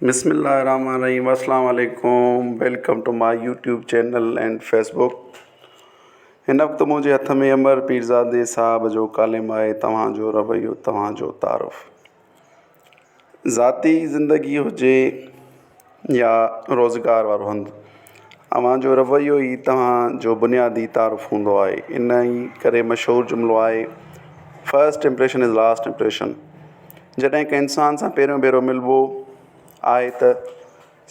بسم الله الرحمٰن الرحيم السلام عليڪم welcome to my YouTube channel and Facebook هن وقت منهنجي هٿ ۾ امر پيرزادي صاحب جو ڪالم آهي توهانجو رويو توهانجو تعارف ذاتي ذندگي هجي يا روزگار وارو هنڌ اوهانجو رويو ئي توهانجو بنيادي تعارف هوندو آهي ان ڪري مشهور جملو آهي first impression is last impression جڏهن ڪنهن انسان سان پهريون ڀيرو ملبو آهي ته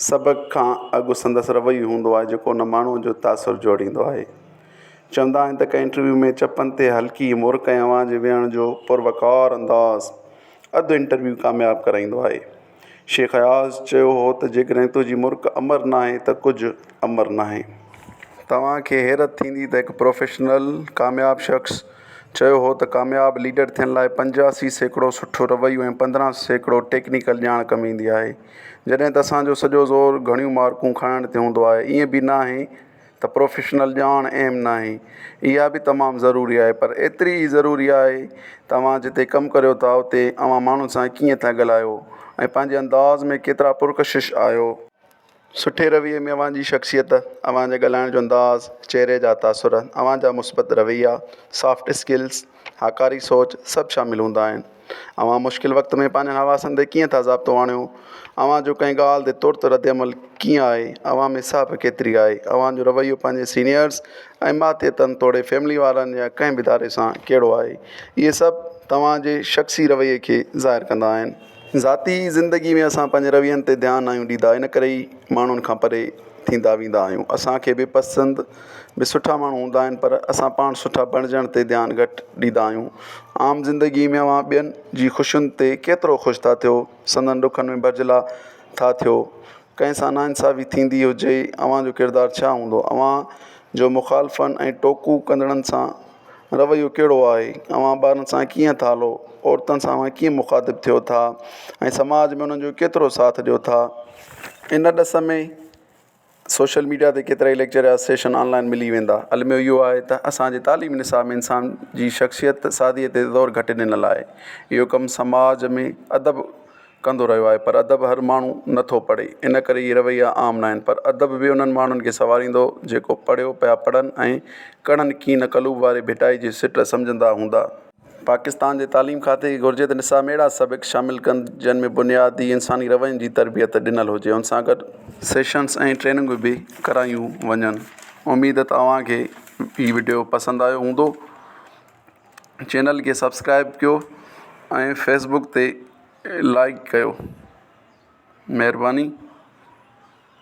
سڀ کان اڳ سندس رويو هوندو آهي جيڪو ان ماڻهو جو تاثر جوڙيندو آهي چوندا آهن ته ڪنهن انٽرويو ۾ چپن تي هلڪي مور ڪنهن اوهان جي ويهڻ جو پر وقار انداز اڌ انٽرويو ڪامياب ڪرائيندو آهي شيخ اياز چيو هو ته جيڪڏهن تنهنجي مرڪ امر نه آهي ته ڪجهه امر نه آهي توهان کي حيرت ٿيندي ته هڪ پروفيشنل ڪامياب شخص چيو هو ته ڪامياب ليڊر ٿيڻ لاء پنجاسي سيڪڙو سٺو رويو ۽ پندرهن سيڪڙو ٽيڪنيڪل ڄاڻ ڪم ايندي آهي، جڏهن ته اسان جو سڄو زور گهڻيون مارڪون کڻڻ تي هوندو آهي، ائين به ناهي ته پروفيشنل ڄاڻ اهم ناهي، اها به تمام ضروري آهي، پر ايتري ئي ضروري آهي ته اوهان جتي ڪم ڪريو ٿا اتي اوهان ماڻهن سان ڪيئن ٿا ڳالهايو ۽ پنهنجي انداز ۾ ڪيترا پرڪشش آهيو. سٺي رويي ۾ اوهان جي شخصيت، اوهان جي ڳالهائڻ جو انداز، چهري جا تاثر، اوهان جا مثبت رويا، سافٽ اسڪلز، هاڪاري سوچ سڀ شامل هوندا آهن. اوهان مشڪل وقت ۾ پنهنجن حواسن تي ڪيئن ٿا ضابطو آڻيو، اوهان جو ڪنهن ڳالهه تي ترت رد عمل ڪيئن آهي، اوهان ۾ صاحب ڪيتري آهي، اوهان جو رويو پنهنجي سينيئرز ۽ ماتحتن توڙي فيملي وارن يا ڪنهن به اداري سان ڪهڙو آهي، اهي سڀ توهان جي شخصي رويي کي ظاهر ڪندا آهن. ذاتي زندگي ۾ اسان پنهنجي روين تي ڌيان ناهيون ڏيندا ان ڪري ئي ماڻهن کان پري ٿيندا ويندا آهيون اسانکي به پسند به سٺا ماڻهو هوندا آهن پر اسان پاڻ سٺا بڻجڻ تي ڌيان گهٽ ڏيندا آهيون عام زندگي ۾ اوهان ٻين جي خوشين تي ڪيترو خوش ٿا ٿيو سندن ڏکن ۾ ڀرجهلا ٿا ٿيو ڪنهن سان ناانصافي ٿيندي هجي ئي اوهان جو ڪردار ڇا هوندو؟ اوهان جو مخالفن ۽ ٽوڪون ڪندڙن سان رويو ڪهڙو آهي؟ اوهان ٻارن سان ڪيئن ٿا هلو؟ عورتن سان اوهان ڪيئن مخاطب ٿيو ٿا ۽ سماج ۾ انهن جو ڪيترو ساٿ ڏيو ٿا؟ ان ڏس ۾ سوشل ميڊيا تي ڪيترائي ليڪچر يا سيشن آنلائن ملي ويندا. الميو اهو آهي ته اسان جي تعليمي نصاب ۾ انسان جي شخصيت سازيء تي زور گهٽ ڏنل آهي. اهو ڪم سماج ۾ ادب ڪندو رهيو آهي پر ادب هر ماڻهو نه ٿو پڙهي ان ڪري اهي رويا عام نه آهن پر ادب به انهن ماڻهن کي سنواريندو جيڪو پڙهيو پيا پڙهن ۽ ڪڙن ڪين قلوب واري ڀٽائي جي سٽ سمجهندا هوندا. پاڪستان جي تعليم کاتي کي گهرجي ته نصاب ۾ اهڙا سبق شامل ڪن جن ۾ بنيادي انساني روين جي تربيت ڏنل هجي ان سان گڏ سيشنز ۽ ٽريننگون به ڪرايون وڃن اميد ته اوهان کي هي وڊيو پسند آيو هوندو چينل کي سبسڪرائب ڪيو ۽ فيسبوڪ تي لائڪ ڪيو مھرباني.